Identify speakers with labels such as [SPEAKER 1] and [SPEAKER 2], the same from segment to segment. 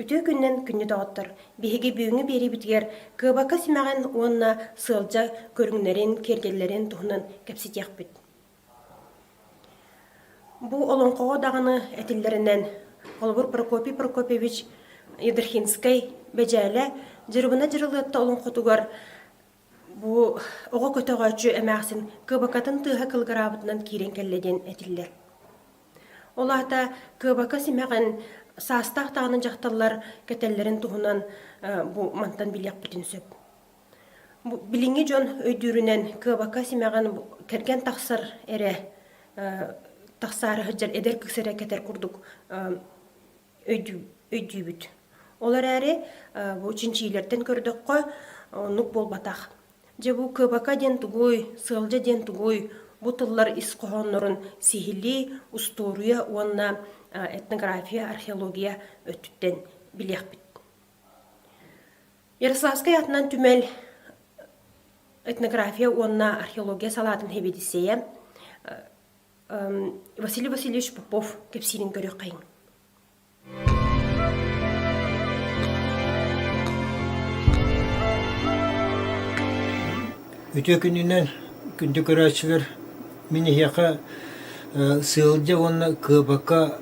[SPEAKER 1] Үтүө күнүнэн күнньүтөҕүттэр биһиги бүгүҥҥү биэриибитигэр кыабакка симэҕин уонна сыалдьа көрүҥнэрин, киэргэллэрин туһунан кэпсэтиэхпит. Бу олоҥхоҕо даҕаны этиллэринэн, холобур Прокопий Прокопьевич Ядрихинскай Бэдьээлэ Дьырыбына Дьырылыатта олоҥхотугар Бу оҕо көтөҕөөччү эмээхсин кыабакатын тыаһа кылгараабытынан киирэн кэллэ диэн этиллэр. Ол аата кыабака симэҕин саастаах даҕаны дьахталлар кэтэллэрин туһунан бу мантан билиэхпитин сөп. Билиҥҥи дьон өйдүүрүнэн кыабака симэҕин кэргэн тахсар эрэ тахсаары сылдьар эдэр кыыс эрэ кэтэр курдук өйдүүбүт. Ол эрээри бу чинчиилэртэн көрдөххө оннук буолбатах. Дьэ бу кыбака диэн тугуй, сыалдьа диэн тугуй, бу тыллар ис хоһооннорун сиһилии устуоруйа уонна этнография, археология өттүттэн билиэхпит. Ярославскай атынан түмэл этнография уонна археология салаатын хэбидиссэйэ Василий Васильевич Попов кэпсиирин көрүөххэйиҥ Үтүө күнүнэн күндү көрөөччүлэр мин эһиэхэ сыалдьа уонна кыабака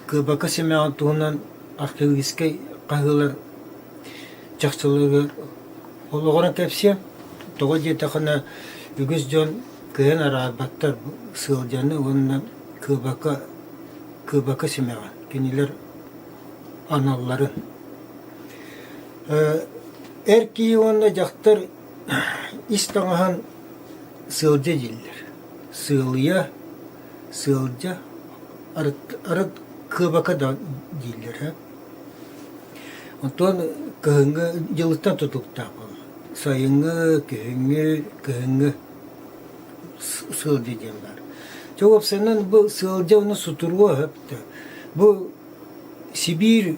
[SPEAKER 1] кыабака симэҕин туһунан археологическай хаһыылар чахчыларыгар олоҕуран кэпсиэм тоҕо диэтэххинэ үгүс дьон кыайан араарбаттар сыалдьаны уонна кыыбака кыыбака симэҕин кинилэр аналларын эр киһи уонна дьахтар ис таҥаһын сыалдьа дииллэр сыалыйа сыалдьа арыт арыт кыыбака да дииллэр Оттон кыһыҥҥы дьылыттан тутуктаах буолар. Сайыҥҥы, күһүҥҥү, кыһыҥҥы сыалдьа диэн баар. Чэ уопсайынан бу сыалдьа уонна сутуруо сөп да. Бу Сибиир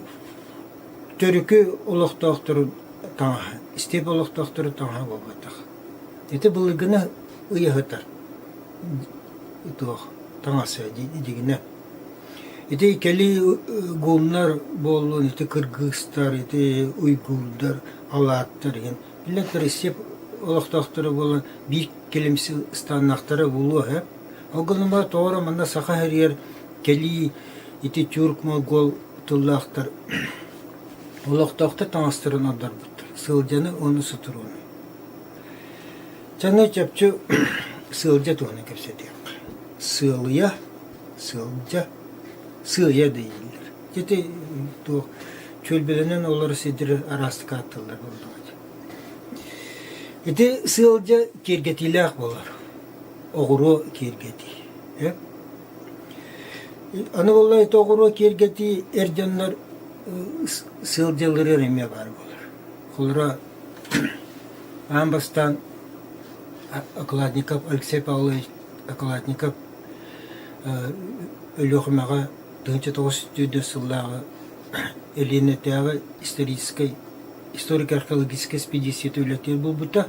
[SPEAKER 1] төрүкү олохтоохторун таҥаһа, степ олохтоохторун таҥаһа буолбатах. Ити былыргыны ый аһытар туох таҥас ээ дьигинэ Ити кэлин гуннар буоллун, ити кыргыыстар, ити уйгурдар, алааттар иһин. Биллэн Россия олохтоохторо буолан биир кэлимси ыстааннаахтара буолуо ээ. Ол гынан баран тоҕо эрэ манна саха иһигэр кэлии ити тюрк-монгол тыллаахтар олохтоохтор таҥастарын ордорбуттар, сылдьаны уонна сутуруону. Чаҥҥа чопчу сылдьа туһунан кэпсэтиэххэ. Сыалыйа Сыалдьа, сыыйа дэйиллэр. Ити туох чүөлбэлэнэн олорор сирдэрэ араастык аатталлар буоллаҕыт. Ити сыалдьа киэргэтиилээх буолар. Оҕуруо киэргэтии. Э? Аны буоллар ити оҕуруо киэргэтии эр дьоннор сыалдьалларыгар эмиэ баар буолар. Холоро аан бастаан Окладников Алексей Павлович Докладников Өлүөхүмэҕэ тыһыынча тоҕус сүүрдэр сыллааҕы Элиэнэтээҕи историческай историко-археологическай эспэдииссийэтэ үлэтин булбута.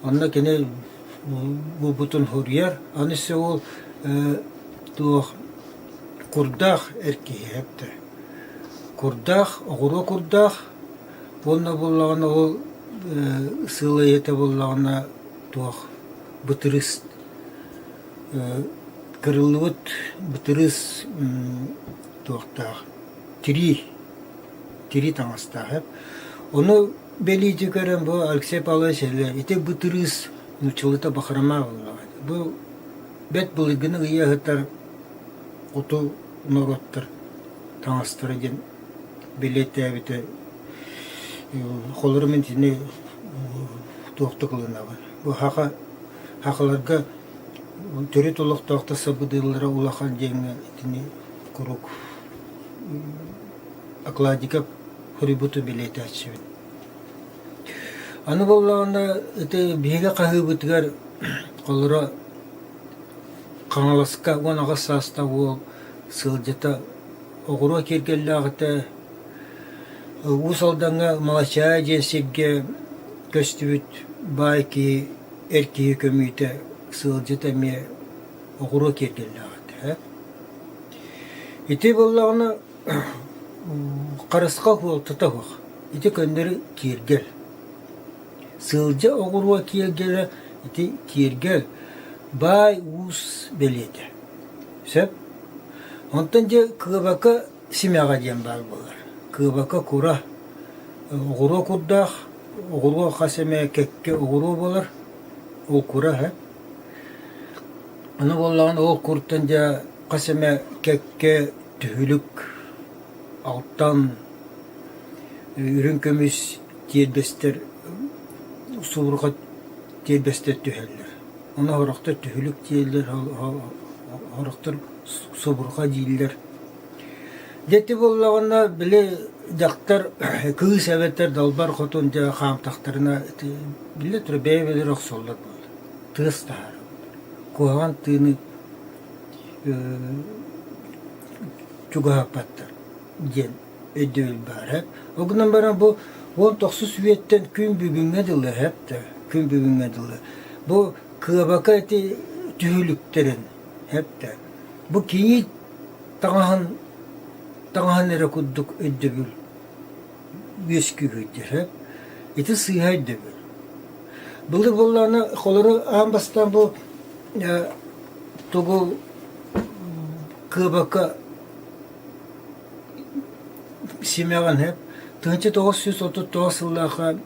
[SPEAKER 1] Онно кини буолбутун хоруйар. Аны өссө ол туох курдаах эр киһи эттэ. Курдаах, оҕуруо курдаах уонна буоллаҕына ол сыылайыта буоллаҕына туох бытырыыс кырыллыбыт бытырыыс туохтаах тирии тирии таҥастаах эбит ону бэлиитик көрөн бу алексей павлович ити бытырыыс нууччалыыта бахрома буоллаҕа бу бэрт былыргыны ыйа сытар хоту норуоттар таҥастара диэн бэлиэтээбитэ холоро мин итини туохта ылынаҕын Быһаҕа Хахаларга төрүт олохтоохтор сабыдыаллара улахан дьиҥҥэ итини куруук окладика хребуту билиэтээччибит. Аны буоллаҕына, ити биһиги хаһыыбытыгар холоро Хаҥаласка уон аҕыс саастаах уол сылдьата оҕуруо киэргэллээҕитэ Уус Алдаҥҥа Малачаа диэн сиргэ көстүбүт баай киһи, эр киһи көмүүтэ, сыалдьыт эмиэ оҕуруот тиэрдэллээх этэ. Ити буоллаҕына харысхал уол тута суох. Ити көннөрү тиэргэл. Сыалдьа оҕуруот тиэргэлэ ити тиэргэл баай уус бэлиэтэ. Сөп? Онтон дьэ кыабака Симэҕэ диэн баар буолар. Кыабака кура, оҕуруо курдаах, оҕуруо хас эмэ кэккэ оҕуруо буолар, ол кура иһэ. Аны буоллаҕына ол куртан дьэ хас эмэ кэккэ түһүлүк, алтан, үрүҥ көмүс тиэрбэстэр, субурҕа тиэрбэстэр түһэллэр. Ону орохтор түһүлүк диэллэр, орохтор собурҕа дииллэр. Дьэти буоллаҕына, били дьахтар кыыс эбэтэр далбар хотун дьэ хаамтахтарына биллэ тура бэйэ-бэйэлэр охсоллор буолар. Тыас таһара куһаҕан тыыны чугаһаппаттар диэн өйдөөн баарап. Ол гынан баран бу он тохсус үйэттэн күн бүгүҥҥэ дылы күн бүгүҥҥэ дылы бу кыабака эти түһүлүктэрин эптэ. Бу киһи таҥаһын таҥаһын эрэ курдук өйдөбүл үөскүүгүддер ити сыыһа өйдөбүл. Былыр боллаана холору аан бастан бу тугу кыабака Симэҕинэ тыһыынча тоҕус сүүс отут тоҕус сыллаахха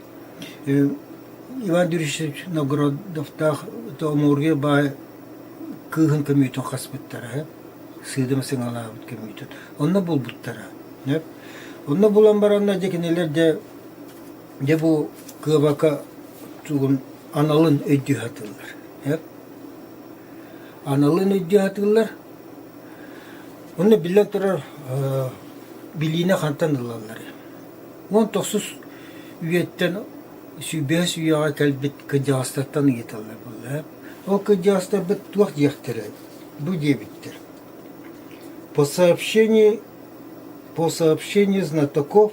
[SPEAKER 1] Иван Юрьевич Новгородовтаах Омургуй баай кыыһын көмүүтүн хаспыттара үһү, сыыдыма сыҥалаабыт көмүүтүн. Онно булбуттара үһү. Онно булан баранна дьэ кинилэр дьэ дьэ бу кыабака тугун аналын өйдүү сатыыллар. Аналын өйдүү сатыыллар. Онно биллэн турар билиини хантан ылалларый? Уон тохсус үйэттэн бэһис үйэҕэ кэлбит кырдьаҕастартан ыйыталлар буоллар. Ол кырдьаҕастарбыт туох диэхтэрэ бу диэбиттэр. По сообщению по сообщению знатоков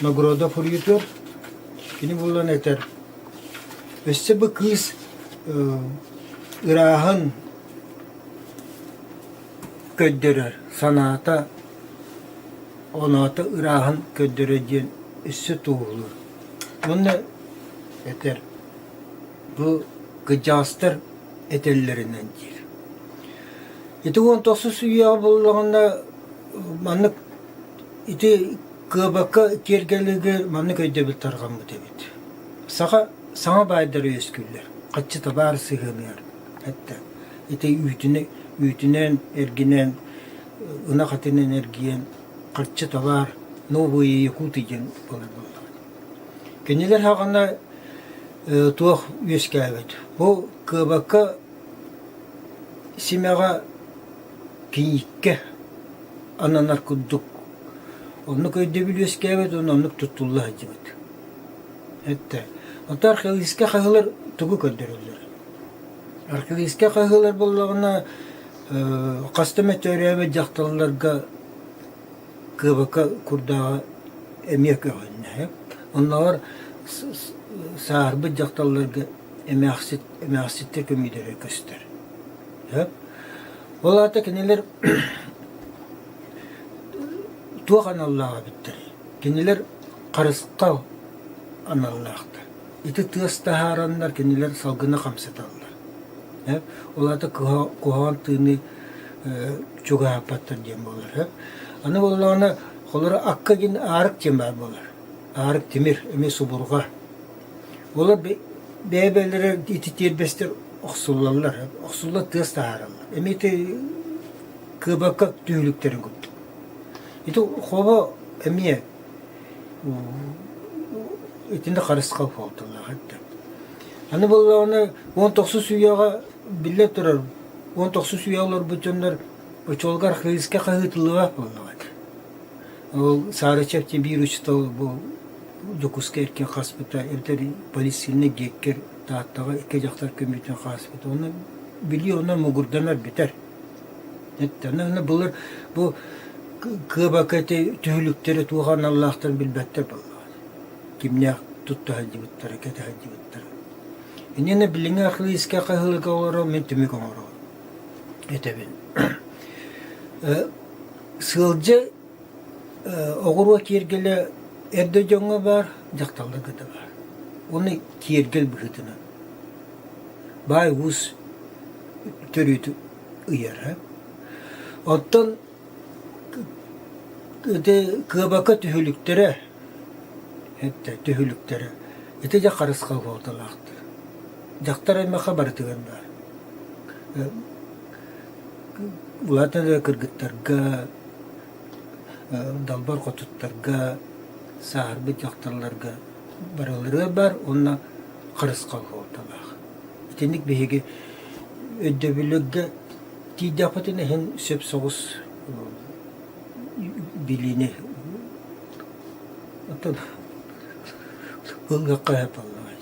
[SPEAKER 1] Нагорода суруйутуор. Кини булан этэр, өссө бу кыыс ырааһын көрдөрөр, санаата, оноото ырааһын көрдөрөр диэн өссө туоһулуур. Уонна этэр, бу кыдьаастар этэллэринэн диир. Ити уон тохсус үйэҕэ буллаҕына маннык Ити кыабакка киэргэлигэр маннык өйдөбүл тарҕаммыт эбит. Саха саҥа баайдара үөскүүллэр, хаччыта баар сыһыаныгар. Эттэ ити үүтүнэн, үүтүнэн, эргинэн, ынах атынан эргийэн, харчы табаар новые якуты диэн буолар буоллаҕа. Кинилэр хаҕана туох үөскээбит. Бу кыабакка симэҕэ Кийииккэ ананар курдук оннук өйдөбүл үөскээбит уонна оннук туттулла сылдьыбыт. Эртэ онто архивистка хаһыылар тугу көрдөрөллөр? Архивистка хаһыылар буоллаҕына хас да эмэ төрөөбүт дьахталларга кыабака курдааҕа эмиэ көҕүлэннэ. Оннооҕор сааһырбыт дьахталларга эмээхсит эмээхситтэр көмүүдэрэ көстөр. Сөп? Ол аата кинилэр туох аналлаах эбиттэр? Кинилэр харысхал аналлаахтар. Ити тыас таһаараннар кинилэр салгына хамсаталлар. Ол аата куһаҕан тыыны чугаһаппаттар диэн буолар. Аны буоллаҕына, холоро акка диэн аарык тиэмэ буолар. Аарык тимир, эми субурҕа. Олор бэйэ-бэйэлэрэ ити тиэрбэстэр охсуллаллар, охсулла тыас таһаараллар. Эмиити кыабакка түһүлүктэрин курдук. Ити хоба эмиэ итинник харысха буолталаах этэ. Аны буоллаҕына, уон тохсус үйэҕэ биллэ турар, уон тохсус үйэҕэ олорбут дьоннор очуолугар хайыска хаһыытыллыбат буоллаҕа этэ. Ол Саара Чэпчэ биир учуутал бу Дьокуускай эркин хаспыта, эбэтэр полиэтилинэ диэккэр Тааттаҕа икки дьахтар көмүтүн хаспыта. Онно билии онно мугурданар бүтэр. Оттон былыр бу кыабака түһүлүктэрэ туох аналлаахтарын билбэттэр буоллаҕа. Кимнээх тутта сылдьыбыттара, кэтэ сылдьыбыттара. Иннинэ билиҥҥи ахлыыска хаһыылыга олорор мин түмүк оҥороҕун. этэбин. Сыалдьы оҕуруо киэргэлэ эрдэ дьоҥҥо баар, дьахталларга да баар. Уну киэргэл быһыытынан баай уус төрүтү ыйара. Оттон ити кыабака түһүлүктэрэ Эттэ түһүлүктэрэ ити дьэ харысхал суолталаахтар. Дьахтар аймахха барытыгар баар. Улаатан эрэр кыргыттарга, далбар хотуттарга, сааһырбыт дьахталларга барыларыгар баар уонна харысхал суолталаах. Итинник биһиги өйдөбүлүггэ тиийдэхпитинэ иһин сөп соҕус билиини оттон былгакка айбаллаҕай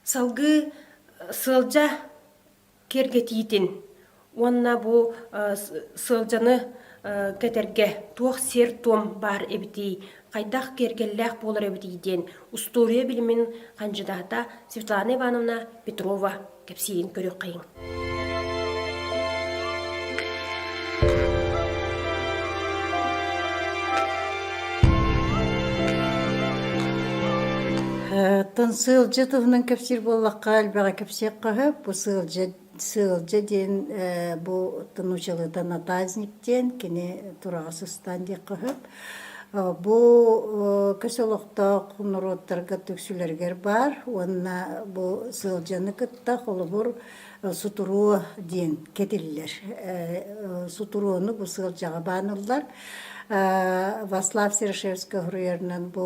[SPEAKER 1] салгыы сыалдьа киэргэтиитин уонна бу сыалдьаны кэтэргэ туох сиэр-туом баар эбитий хайдах киэргэллээх буолар эбитий диэн устуоруйа билимин хандьыдаата Светлана Ивановна Петрова кэпсиирин көрүөххэйиҥ. Тын сыылжы туһунан кэпсиир буоллахха, әлбэҕэ кэпсиэх қаһып, бу сыылжы Сыалдьа диэн бу нуучалыыта натазник диэн кини тураҕа сыстаан диэххэ сөп. Бу көс олохтоох норуоттарга түксүлэригэр баар уонна бу сыалдьаны кытта холобур сутуруо диэн кэтиллэр. Сутуруону бу сыалдьаҕа бааныллар. Васлав Серышевский уруйарынан бу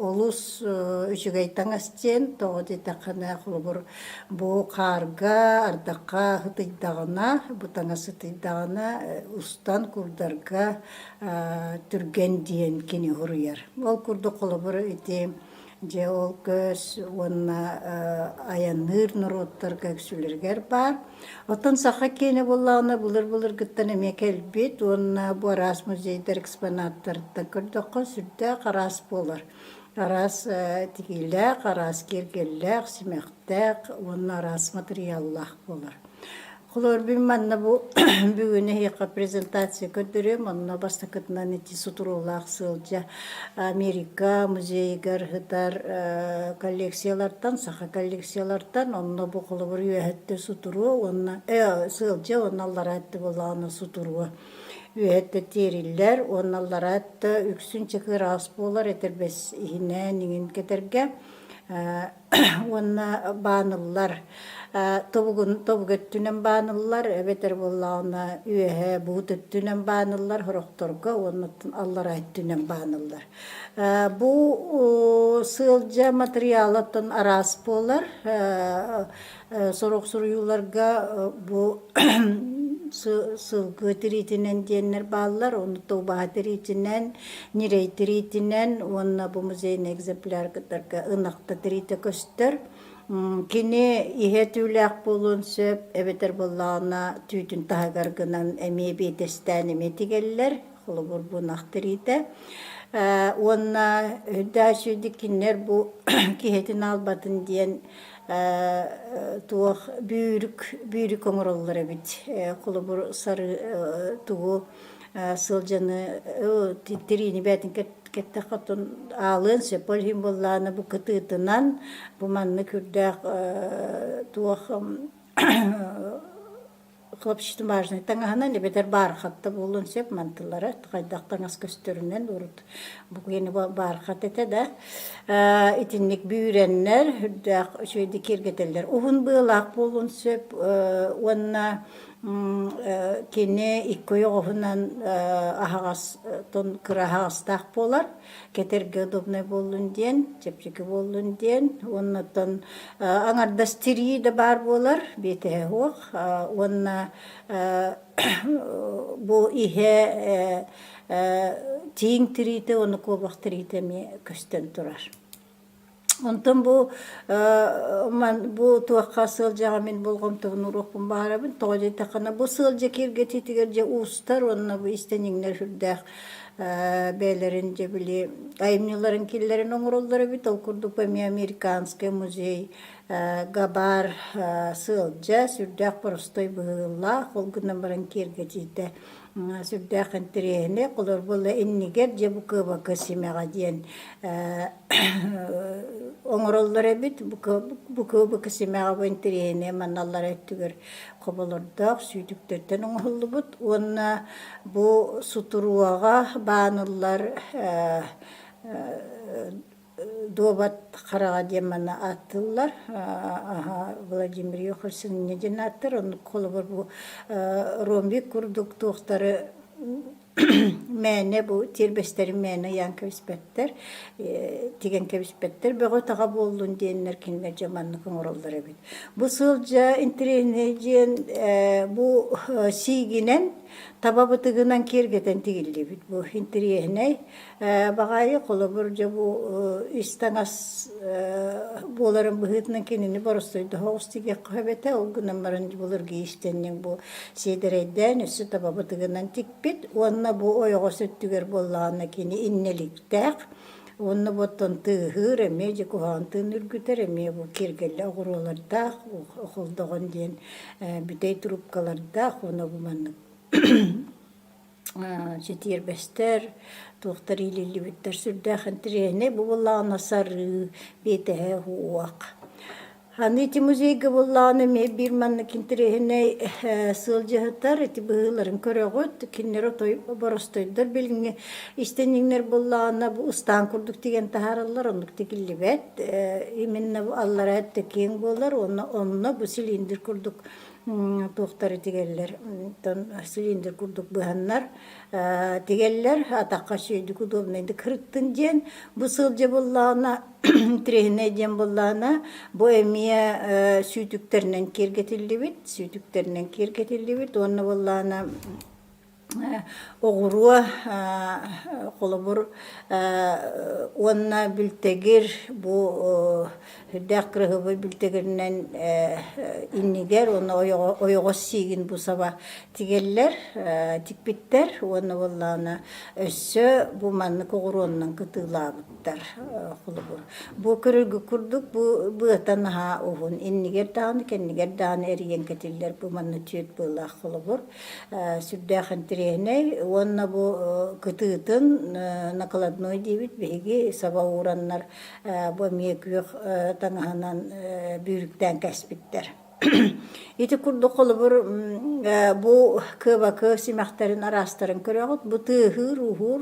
[SPEAKER 1] олус үчүгэй таҥас диэн, тоҕо дитэххинэ холобур бу хаарга, ардахха ытыйдаҕына, бу таҥас ытыйдаҕына устан курдарга түргэн диэн кини уруйар. Ол курдук холобур ити Дьэ ол көс уонна айанныыр норуоттарга үксүлэригэр баар. Оттон саха киэнэ буоллаҕына былыр-былыргыттан эмиэ кэлбит уонна бу араас музейдар экспонаттарыттан көрдөххө сүрдээх араас буолар. Араас тигиилээх, араас киэргэллээх, симэхтээх уонна араас матырыйааллаах буолар. Хлорбин манна бу бүгүн эһиэхэ презентация көрдөрүөм. Онно бастакытынан ити сутуруулаах сыалдьа Америка музейыгар һытар коллекциялартан, саха коллекциялартан онно бу холобур үөһэтте сутуруо уонна сыалдьа уонна аллараа өттө булаана сутуруо. Үөһэтте тиэриллэр уонна аллараа өттө үксүн чакыр аас буолар этэрбэс иһинэ ниҥин кэтэргэ уонна бааныллар тобугун тобук өттүнэн бааныллар эбэтэр буоллаҕына үөһэ буут өттүнэн бааныллар сорохторго уоннаттан аллараа өттүнэн бааныллар бу сыалдьа матырыйаалыттан араас буолар сорох суруйууларга бу сылгы тириитинэн диэннэр бааллар оннук убаһа тириитинэн ньирэй тириитинэн уонна бу музейный экземпляр кытарга ынахта тириитэ көстөр кини иһэ түүлээх буолуон сөп эбэтэр буоллаҕына түүтүн таһыгар гынан эмиэ биэтэстээн эмиэ тигэллэр холобур бу ынах тириитэ уонна өйдөөсүйдүк кинилэр бу киһитин аалбатын диэн туох бүүрүк бүүрүк оҥороллор эбит холобур сары тугу сылдьаны тириини бээтин кэттэххэ оттон аалыан сөп ол иһин буоллаана бу кытыытынан бу маннык үрдээх туох хлопчатомажный таҥаһынан эбэтэр баархатта буолуон сөп мантыллара хайдах таҥас көстөрүнэн урут буквені баархат этэ да итинник бүүрэннэр үрдээх үчүгэйдик киэргэтэллэр уһун быалаах буолуон сөп уонна кини икки ойоҕоһунан аһаҕас кыраһаҕастаах буолар кэтэргэ удобнай буоллун диэн, чэпчэки буоллун диэн, уоннаттан аҥардас тирии да баар буолар, биэтэһэ суох, уонна бу иһэ тииҥ тириитэ, уонна куобах тириитэ эмиэ көстөн турар. Онтон бу бу туохха сылдьаҕа мин болҕомтобун уруокпун баһарабын. Тоҕо диэтэххинэ бу сылдьа киэргэтиитигэр дьэ уустар уонна бу истэниҥнэр сүрдээх бэйэлэрин дьэ били айымньыларын киллэрэн оҥороллор эбит. Ол курдук эмиэ американский музей Габаар сыалдьа, сүрдээх простой быһыылаах, ол гынан баран киэргэтиитэ сүрдээх интэриэһинэй холор буолла иннигэр дьэ бу кыабака симэҕэ диэн оҥороллор эбит бу кыабака симэҕэ бу интэриэһинэй маналлара өттүгэр хоболордоох сүүтүктэртэн оҥоһуллубут уонна бу сутуруоҕа бааныллар дуобат хараҕа диэн манна ааттыыллар аһа Владимир Юхольцев инньэ диэн ааттар оннук холобур бу ромбик курдук туохтары мээнэ бу тиэрбэстэрин мээнэ ыйаан кэбиспэттэр тигэн кэбиспэттэр бөҕө-таҕа буоллун диэннэр кинилэр дьэ маннык оҥороллор эбит бу сылдьа интириэһинэй диэн бу сиигинэн таба бытыгынан киэргэтэн тигиллибит бу интириэһинэй Баҕайы, холобур, дьэ бу ис-таҥас буоларын быһыытынан кинини боростуойдаах оҕус тигиэххэ сөп этэ. Ол гынан баран былыргы иистэнньэҥ бу сиэдэрэйдээн өссө таба бытыгынан тикпит уонна бу ойоҕос өттүгэр буоллаҕына кини иннэликтээх уонна бу оттон тыаһыыр эмиэ дьэ куһаҕан тыын үргүтэр эмиэ бу киэргэллэ оҕуруолардаах холдоҕон диэн бүтэй трубкалардаах уонна бу маннык ситиэрбэстэр, туохтар иилиллибиттэр сүрдээх интириэһинэй бубуллаҕына сарыы, биэтэһэ уох. Аны ити музейга буллаҕына эмиэ биир маннык интириэһинэй сыалдьыһытар ити быһыыларын көрөҕүт, кинилэр отой боростойдор билиҥҥи истиниҥнэр буллаҕына бу ыстаан курдук тигэн таһаараллар, оннук тигиллибэт. Именно аллара өттө киэҥ буолар уонна онно бу цилиндр курдук туохтар тигэллэр оттон силиндэр курдук быһаннар тигэллэр атахха сүөдүк удобнайдык хырыттын диэн бу сыл дьэ буллаҕына тренинэй диэн буллаҕына бу эмиэ сүүтүктэринэн киэргэтиллибит сүүтүктэринэн киэргэтиллибит уонна буллаҕына оҕуруо холобур уонна бүлтэгир бу үрдээх кыраһыабай бүлтэгиринэн иннигэр уонна ойоҕос сиигин бу саба тигэллэр тикпиттэр уонна буоллаҕына өссө бу маннык оҕуруоннан кытыылаабыттар холобур бу көрөргө курдук бу быата наһаа уһун иннигэр даҕаны кэннигэр даҕаны эрийэн кэтиллэр бу манна түөрт быылаах холобур сүрдээх интириэһинэй уонна бу кытыытын накладной диэбит биһиги саба уураннар бу эмиэ күөх таҥаһынан бүрүктээн кэспиттэр ити курдук холобур бу кыабакы симэхтэрин араастарын көрөҕүт бу тыаһыыр ууһуур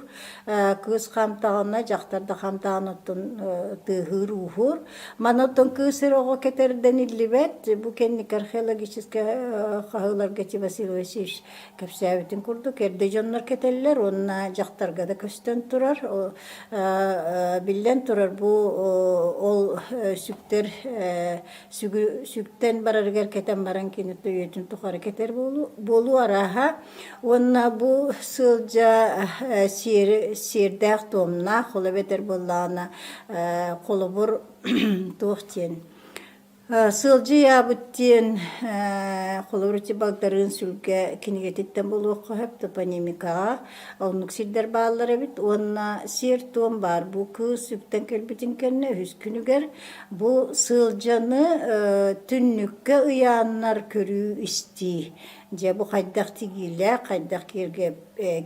[SPEAKER 1] кыыс хамтаҕына дьахтар да хамтаҕын оттун тыаһыыр ууһуур Манаттан кыысыр оҕо кэтэрдэн иллибэт, бу кэнники археологическай хаһыыларга Василий Васильевич кэпсээбитин курдук, эрдэ дьоннор кэтэллэр уонна дьахтарга да көстөн турар. Биллэн турар, бу ол сүктэр сүгүн сүктэн барарыгар кэтэн баран кини өйөтүн тухары кэтэр буолуу арааһа Уонна бу сылдьа сиэр сиэрдээх-туомнаах, ол эбэтэр буоллаҕына холобур туох диэн сылдьыйаабыт диэн холобур ити Багдарыын Сүлгэ кинигэтиттэн булуохха сөп топонимикаҕа оннук сирдэр бааллар эбит уонна сиэр-туом баар бу кыыс үптэн кэлбитин кэннэ үһүс күнүгэр бу сылдьаны түннүккэ ыйааннар көрүү-истии Дьэ бу хайдах тигиилээх, хайдах киэргэ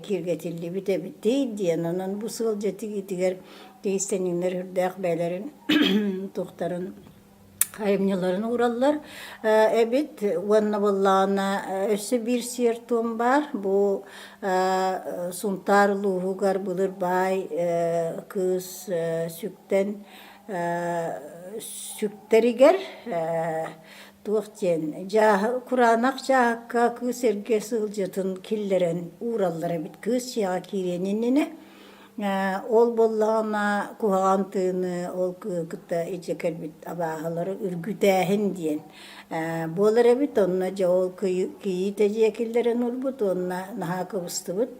[SPEAKER 1] киэргэтиллибит эбитий диэн онон бу сыал дьэ тигиитигэр киристэниннэр үрдээх бэйэлэрин тухтарын айымньыларын уураллар эбит уонна буоллаҕына өссө биир сиэр туом баар бу Сунтаар улууһугар былыр баай кыыс сүктэн сүктэригэр туох диэн дьааһы кураанах дьааһыкка кыыс эргэ сылдьытын киллэрэн уураллар эбит кыыс дьиэҕэ киириэн иннинэ ол буоллаҕына куһаҕан тыыны ол кытта илдьэ кэлбит абааһылары үргүтээһин диэн буолар эбит онно дьэ ол кийиитэ дьиэ киллэрэн ылбыт уонна наһаа кыбыстыбыт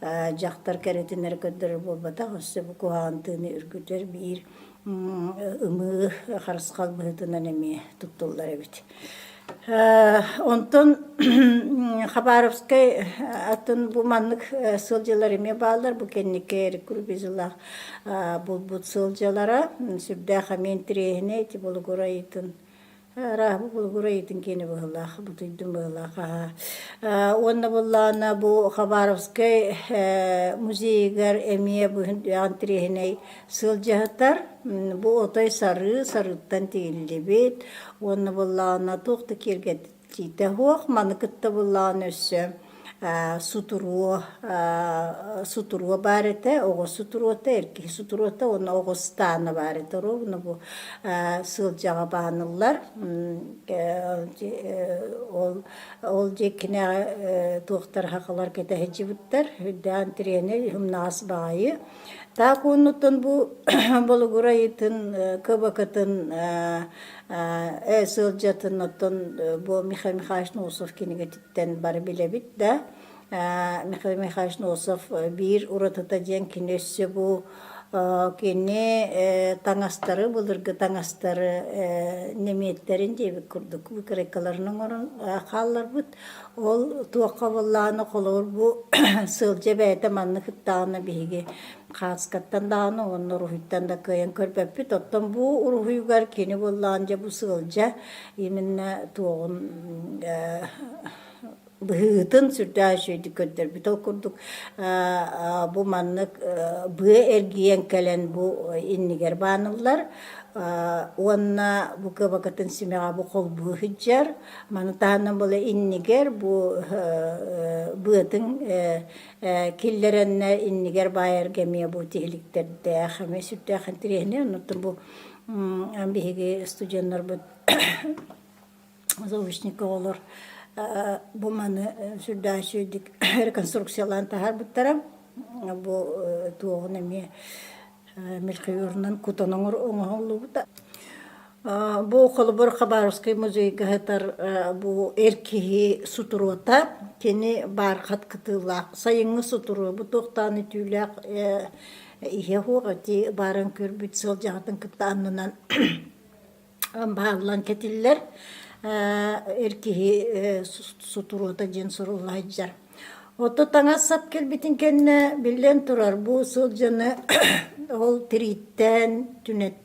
[SPEAKER 1] дьахтар кэрэтинэр көрдөрөр буолбатах, өссө бу куһаҕан тыыны үргүтэр биир ымыы харысхал быһыытынан эмиэ туттуллар эбит. Онтон Хабаровскай атын бу маннык сылдьылар эмиэ бааллар. Бу кэнники Эрик Курбизылаах булбут сылдьылара. Сүрдээх эмиэ интириэһинэй, ити булугур айытын Арааһы булгур эйэтин киэни быһылаах, бутуйдун быһылаах аһа. Э, уонна буллаана бу Хабаровскай э, музейыгар эмиэ бу антиреһинэй сылдьыһатар. Бу отой сарыы, сарыыттан тигиллибит. Уонна буллаана туох да киэргэтиитэ суох. Маны кытта буллаана өссө сутуруо сутуруо баар этэ оҕо сутуруота эр киһи сутуруота уонна оҕо ыстаана баар этэ оруобуна бу сылдьаҕа бааныллар ол ол дьиэкинэҕэ туохтар хахалар кэтэһиччибиттэр үрдээн тренер умнаҕас баҕайы таах уоннуттан бу болугур айытын кыбакытын ээ сылдьатын оттон бу Михаил Михайлович Носов кинигэтиттэн Тэн бары билэбит да, Михаил Михайлович Носов биир уратыта диэн кини өссө бу кини таҥастары, былыргы таҥастары немецтэрин диэбит курдук выкройкаларын оҥорон хаалларбыт. Ол туохха буоллаҕына холобур бу сылдьа бэйэтэ маннык кыттаҕына биһиги хаацкаттан даҕаны уонна уруһуйтан да кыайан көрбөппүт. Оттон бу уруһуйугар кини буоллаҕына дьэ бу сылдьа именно туоҕун быһыытын сүрдээх үчүгэйдик көрдөрбүт ол курдук бу маннык быа эргийэн кэлэн бу иннигэр бааныллар уонна бу кыбакытын симэҕэ бу холбуу сылдьар маны таһынан була иннигэр бу быатын киллэрэннэ иннигэр баайар эмиэ бу тиһиликтэрдээх эмиэ сүрдээх интириэһинэй оннуттан бу Эн биһиги студеннарбыт заучник оҕолор бу маны сүрдээх үчүгэйдик реконструкциялаан таһаарбыттара. Бу туоҕун эмиэ мелхиорунан кутан оҥоһуллубута. Бу холобур Хабаровский музейга сытар бу эр киһи сутуруота. Кини баар хат кытыылаах сайыҥҥы сутуруо. Бу туохтаан итиилээх иһэ суох ити бааран көрбүт сылдьаҕытын кытта аннынан бааллан кэтиллэр эр киһи сутуруота диэн суруллайдьар оту таҥас сап кэлбитин кэннэ биллэн турар бу сылдьаны ол тирииттээн түнэттэн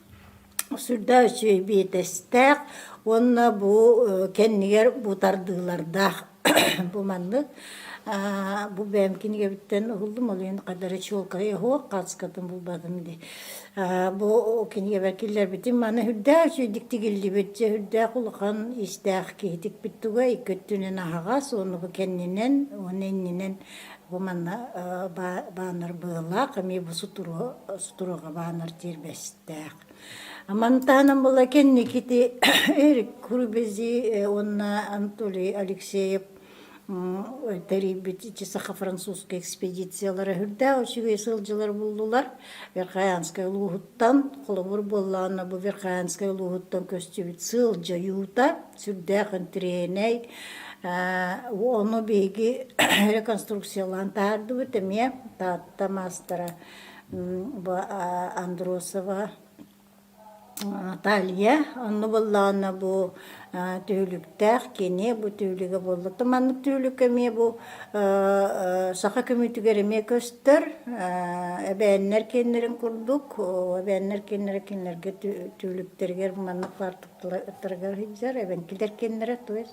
[SPEAKER 1] Сүрдээх үчүгэй биэтэстээх уонна бу кэннигэр бу тардыылардаах бу маннык бу бэйэм кинигэбиттэн уһуллум ол иһин хата эрэ чуолкайа оһуох хаацыкатын булбатым дии бу кинигэбэр киллэрбитим маны үрдээх үчүгэйдик тигиллибит дьэ үрдээх улахан иистээх киһи тикпит туга икки өттүнэн аһаҕас уонна бу кэннинэн уонна иннинэн бу манна бааннар быһыылаах эмиэ бу сутуруо Турҕабаанар тиэрбэстээх. Амантаанам была кэнникити Эрик Курбези уонна Анатолий Алексеев тэрийбит ити саха-французскай экспедициялара үрдээх үчүгэй сылдьылар буллулар Верхоянскай улууһуттан холобур буоллаҕына бу Верхоянскай улууһуттан көстүбүт сыал дьайуута сүрдээх интириэһинэй ону биһиги реконструкциялаан таһаардыбыт эмиэ Таатта маастара Андросова Талия онно буоллаҕына бу түһүлүктээх кини бу түһүлүгэ буолла. Маннык түһүлүккэ эмиэ бу саха көмүтүгэр эмиэ көстөр эбээннэр киэннэрин курдук эбээннэр киэннэрэ кинилэргэ түһүлүктэригэр маннык баартыктарга сылдьар эбэҥкилэр киэннэрэ туос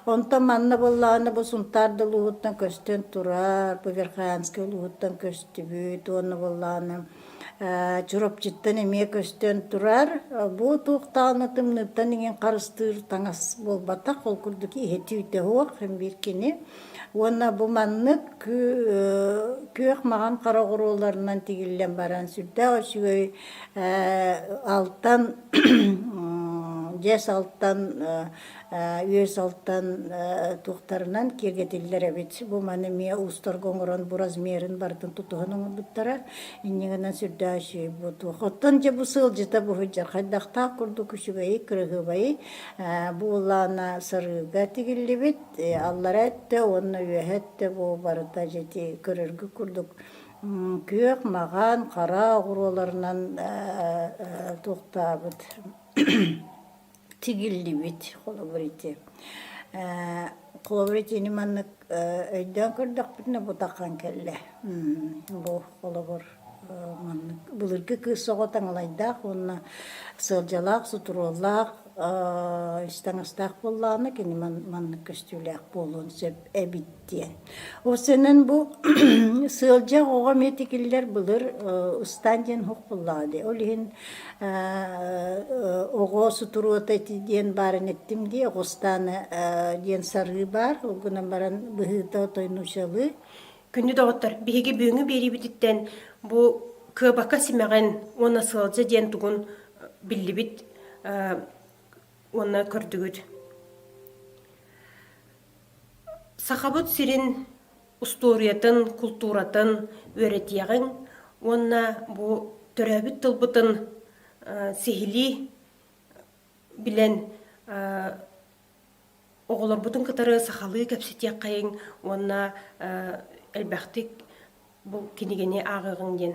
[SPEAKER 1] онтон манна буоллаҕына бу сунтаар да улууһуттан көстөн турар быгырхаянскай улууһуттан көстөр Түбүт уонна буоллааны Чурапчыттан эмиэ көстөн турар. Бу туохтааны тымныыттан иҥин харыстыыр таҥас буолбатах, ол курдук иһи түүтэ суох биир кини. Уонна бу маннык күөх маҕан хараҕырууларынан тигиллэн баран сүрдээх үчүгэй алтан дьэс алтан үөс алтан туохтарынан киэргэтиллэр эбит. Бу маны эмиэ уустарга оҥорон бу размерын барытын тутуһан оҥорбуттара. Иннигинэн сүрдээчи бу туох. Оттон дьэ бу сыалдьыта бу сылдьар хайдахтаах курдук үчүгэйи, кыраһыабайы бу ылаана сарыыга тигиллибит аллара өттө уонна үөһэ өттө бу барыта дьити көрөргө курдук күөх маҕан хара оҕуруоларынан туохтаабыт тигиллибит холобур ити холобур итини маннык өйдөөн көрдөхпүтүнэ бутахан кэллэ бу холобур маннык былыргы кыыс оҕо таҥалайдаах уонна сыалдьалаах сутуруоллаах ис таҥастаах буоллаҕына кини маннык көстүүлээх буолуон сөп эбит диэн. Ол сенен бу сыалдьа оҕо метикиллер былыр ыстаан диэн уһук куллаади. Ол иһин оҕо сутуруота диэн баарын эттим дии, оҕо ыстааны диэн сарыы баар. Ол гынан баран быһыыта тойнучалыы. Күнү доҕоттор, биһиги бүгүҥҥү биэриибититтэн бу кыабака симэҕин уонна сыалдьа диэн тугун биллибит уонна көрдүгүт. Сахабыт сирин устуоруйатын, култууратын үөрэтиэҕиҥ уонна бу төрөөбүт тылбытын сиһилии билэн оҕолорбутун кытары сахалыы кэпсэтиэххэйиҥ уонна элбэхтик бу кинигэни ааҕыаҕыҥ диэн